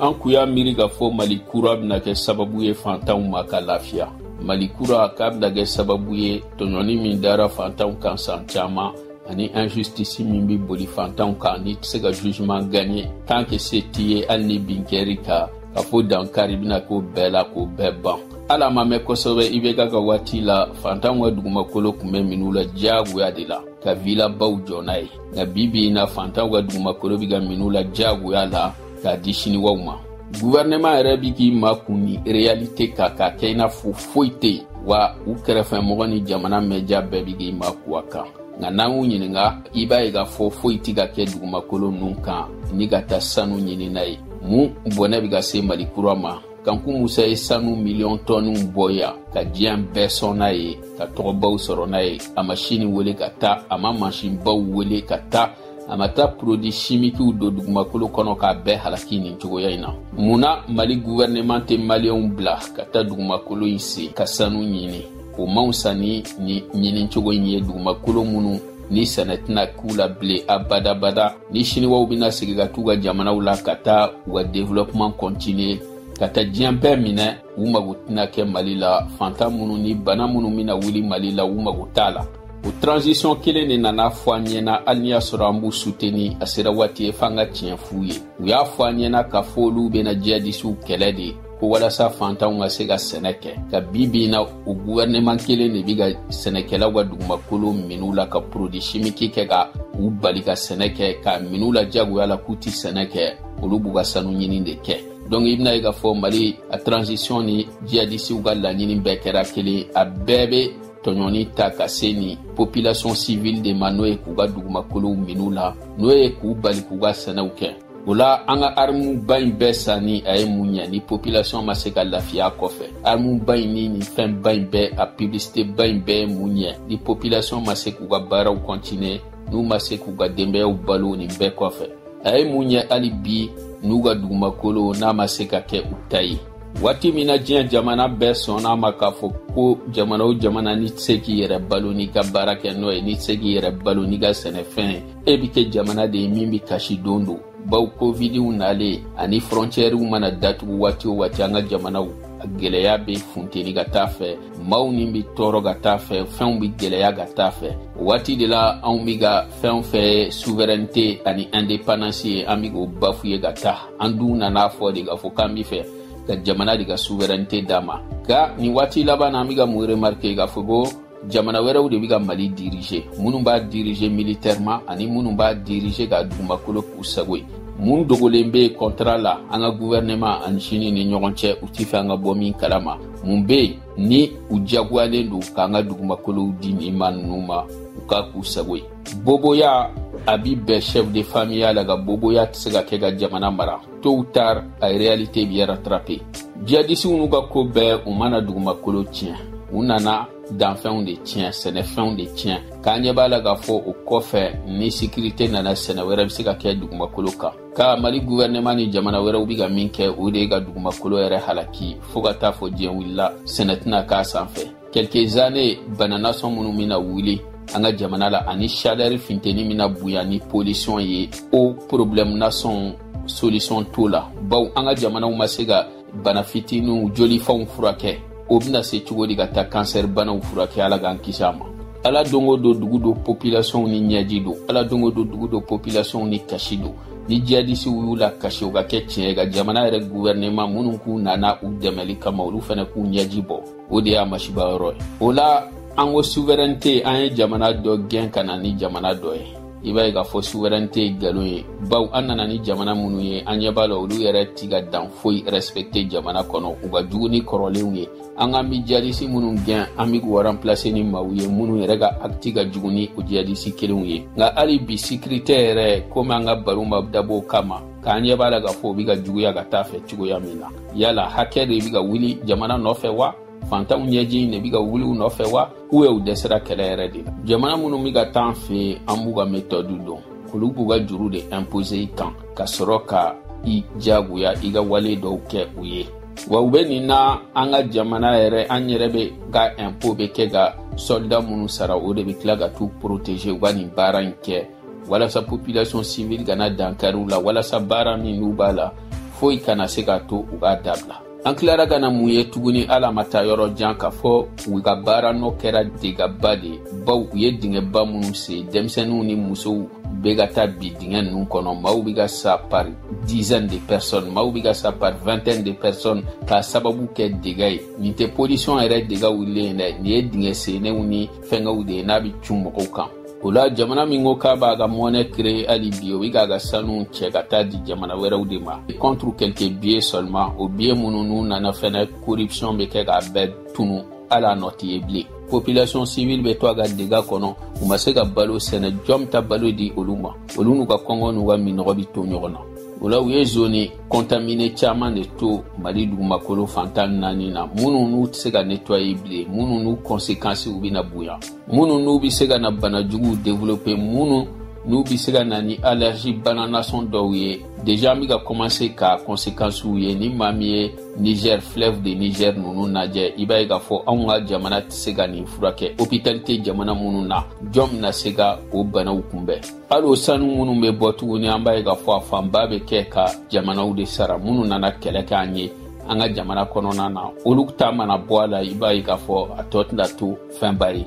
an kun y'a miiri k'a fɔ mali kura bɛna kɛ sababu ye fantanw ma ka lafiya mali kura k'a bɛna kɛ sababu ye tɔɲɔni min dara fantanw kan san caman ani injustice min bɛ boli fantanw kan n'i tɛ se ka jugement gagner tant que se t'i ye hali ni bin kɛr'i kan k'a fɔ dankari bɛna k'o bɛɛ la k'o bɛɛ ban hali a ma mɛn kosɛbɛ ibeka ka waati la fantanw ka dugumakolo kun bɛ min'u la diyagoya de la ka vilabaw jɔ n'a ye nka bi bi in na fantanw ka dugumakolo bɛ ka min'u la diyagoya la k'a di siniwaw ma guvɛrɛnɛman yɛrɛ bɛ k'i makun nin reyalite kan k'a kɛ i n'a fɔ foyi tɛ yen wa u kɛrɛfɛ mɔgɔ ni jamana mɛja bɛɛ bɛ k'i makun a kan nka n'an y'u ɲininka i b'a ye k'a fɔ foyi tɛ ka kɛ dugumakolo ninnu kan ni ka taa sanu ɲini n'a ye mun bɔnɛ bɛ ka se mali kura ma kanku musa ye sanu miliyɔn tɔniw bɔ yan ka diɲɛ bɛɛ sɔn n'a ye ka tɔgɔbaw sɔrɔ n'a ye a ma sini wele ka taa a ma mansinbaw wele ka taa a ma taa porodi simikiw don dugumakolo kɔnɔ k'a bɛɛ halaki nin cogoya in na mun na mali guvɛrɛnɛman tɛ maliyɛnw bila ka taa dugumakolo in sen ka sanu ɲini o man fisa ni nin ɲinicogo in ye dugumakolo minnu ni sɛnɛ tɛna k'u la bilen abadabada ni siniwaw bɛna segin ka t'u ka jamanaw la ka taa u ka développement continuer ka taa diɲɛ bɛɛ minɛ u mago tɛna kɛ mali la fantan minnu ni bana minnu bɛna wuli mali la u mago t'a la o transition kelen de nan'a fɔ an ɲɛna hali n'i y'a sɔrɔ an b'u suteni a sera waati ye f'an ka tiɲɛ f'u ye u y'a fɔ an ɲɛna k'a fɔ olu bɛna jihadisiw kɛlɛ de ko walasa fantanw ka se ka sɛnɛ kɛ nka bi bi in na o guvɛrɛnɛman kelen de bi ka sɛnɛkɛlaw ka dugumakolo min'u la ka porodi simiki kɛ ka u bali ka sɛnɛ kɛ k'a min'u la jagoya la k'u tɛ sɛnɛ kɛ olu b'u ka sanu ɲini de kɛ donc i bɛn'a ye k'a fɔ mali a transition ni jihadisiw ka laɲini bɛɛ kɛra kelen a bɛɛ bɛ tɔɲɔni ta ka se nin population civile de ma n'o ye k'u ka dugumakolow min'u la n'o ye k'u bali k'u ka sɛnɛw kɛ o la an ka armuba in bɛɛ sanni a ye mun ɲɛ ni popilasiyɔn ma se ka lafiya kɔfɛ armuba in ni nin fɛnba in bɛɛ a piblisiteba in bɛɛ ye mun ɲɛ ni popilasiyɔn ma se k'u ka baaraw kɔntiniye n'u ma se k'u ka denbayaw balo nin bɛɛ kɔfɛ a ye mun ɲɛ hali bi n'u ka dugumakolo n'a ma se ka kɛ u ta ye waati min na diɲɛ jamana bɛɛ sɔnn'a ma k'a fɔ ko jamana o jamana n'i tɛ se k'i yɛrɛ balo n'i ka baarakɛnɔ ye n'i tɛ se k'i yɛrɛ balo n'i ka sɛnɛfɛn ye e bɛ kɛ jamana de ye min bɛ kasi don don baw kovidiw nalen ani fɔrɔncɛriw mana datugu waati o waati an ka jamanaw a gɛlɛya bɛ funteni ka taa fɛ maaw ni bɛ tɔɔrɔ ka taa fɛ fɛnw bɛ gɛlɛya ka taa fɛ o waati de la anw bɛ ka fɛn fɛn suverɛnite ani indépendance ye an bɛ k'o bafouer ka taa an dun nan'a fɔ de k'a fɔ k'an b'a fɛ ka jamana de ka suverɛnite d'a ma nka nin waati laban na an bɛ ka mun remarke k'a fɔ ko jamana wɛrɛw de bɛ ka mali diriger minnu b'a diriger militairement ani minnu b'a diriger k'a dugumakolo k'u sago ye mun dogolen be contrat la an ka gouvernement ani sini ni ɲɔgɔn cɛ u ti fɛ an ka bɔ min kalama mun be yen ni u diyagoyalen don k'an ka dugumakolow di nin maa nunu ma u k'a k'u sago ye boboya a bi bɛn chef de famiya la ka boboya tɛ se ka kɛ ka jamana mara tôt ou tard a réalité b'i rattraper djihadisiw n'u ka ko bɛɛ u ma na dugumakolo tiɲɛ u nana danfɛnw de tiɲɛ sɛnɛfɛnw de tiɲɛ k'an ɲɛ b'a la k'a fɔ o kɔfɛ ni sécurité nana sɛnɛ wɛrɛ bɛ se ka kɛ dugumakolo kan ka mali gouvernement ni jamana wɛrɛw bɛ ka min kɛ o de ye ka dugumakolo yɛrɛ halaki fɔɔ ka taa fɔ diɲɛ wulila sɛnɛ tɛna k'a sanfɛ quelques années bana nasɔn minnu bɛna wuli an ka jamana la ani chaleur finteni bɛna bonya ni pollution ye o problème nasɔn solution t'o la baw an ka jamanaw ma se ka bana fitiniw jolifɛnw furakɛ o bɛna se cogo di ka taa cancer banaw furakɛ ala k'an kisi a ma ala don o don dugu don populationw ni ɲɛji don ala don o don dugu don populationw ni kasi don ni jihadisiw y'u lakasi o ka kɛ tiɲɛ ye ka jamana yɛrɛ gouvernement minnu k'u nana u dɛmɛli kama olu fana k'u ɲɛji bɔ o de y'a masiba yɔrɔ ye o la an ko souveraineté an ye jamana dɔ gɛn ka na ni jamana dɔ ye i b'a ye k'a fɔ souveraineté galon ye baw an nana ni jamana minnu ye an ɲɛ b'a la olu yɛrɛ ti ka dan foyi respecter jamana kɔnɔ u ka jugu ni kɔrɔlenw ye an k'an bi jadisi minnu gɛn an be k'u remplacer ni maaw ye minnu yɛrɛ ka acte ka jugu ni o jadisi kelenw ye nka hali bi sécurité yɛrɛ komi an ka baro ma dabɔ o kama k'an ɲɛ b'a la k'a fɔ o be ka juguya ka taa fɛ cogoya min na yala hakɛ de bɛ ka wuli jamana nɔfɛ wa fantanw ɲɛji in de bɛ ka wuli u nɔfɛ wa u ye u dɛsɛra kɛlɛ yɛrɛ de la jamana minnu bɛ ka taa an fɛ yen an b'u ka méthode dɔn olu b'u ka juru de imposer i kan ka sɔrɔ ka i jagoya i ka wale dɔw kɛ u ye wa u bɛ nin na an ka jamana yɛrɛ an yɛrɛ bɛɛ ka impôt bɛ kɛ ka soldat minnu sara o de bɛ tila ka t'u protéger u ka nin baara in kɛ walasa population civile kana dankari u la walasa baara min n'u b'a la foyi kana se ka to u k'a dabila an tilara ka na mun ye tuguni hali a ma taa yɔrɔ jan k'a fɔ u ka baara nɔ kɛra degaba de ye baw u ye dingɛba minnu sen denmisɛnninw ni musow bɛ ka taa bin dingɛ ninnu kɔnɔ maaw bɛ ka sa par dizaine de personnes maaw bɛ ka sa par vingtaine de personnes k'a sababu kɛ dega ye nin tɛ pollution yɛrɛ dega wulilen ye dɛ nin ye dingɛ sennenw ni fɛngɛw de ye n'a bɛ cun mɔgɔw kan o la jamana min ko k'a b'a ka monnaie créer hali bi o bɛ k'a ka sanu cɛ ka taa di jamana wɛrɛw de ma contre quelques billets seulement o billet minnu n'u nana fɛnɛ corruption bɛ kɛ k'a bɛɛ tunu hali a nɔ tɛ ye bilen population civile bɛ to a ka dega kɔnɔ u ma se ka balo sɛnɛ jɔn bɛ taa balo di olu ma olu n'u ka kɔngɔ n'u ka minnɔgɔ bɛ to ɲɔgɔn na o la u ye zone kɔntamine caman de to mali dugumakolo fan tan ni naani na minnu n'u tɛ se ka netwaye bilen minnu n'u kɔnsekansiw bɛna bonya minnu n'u bɛ se ka na bana juguw develope minnu n'u bɛ se ka na ni alerji bana nasɔn dɔw ye deja an bɛ ka kɔmanse ka kɔnsekansiw ye ni maa min ye niger fleuve de niger ninnu lajɛ i b'a ye k'a fɔ anw ka jamana tɛ se ka nin furakɛ hopitali tɛ jamana minnu na jɔn bɛna se ka o banaw kunbɛn hali o sanu minnu bɛ bɔ tuguni an b'a ye k'a fɔ a fanba bɛ kɛ ka jamanaw de sara minnu nana kɛlɛ kɛ an ye an ka jamana kɔnɔna na olu ta mana bɔ a la i b'a ye k'a fɔ a tɔ tɛna to fɛnba ye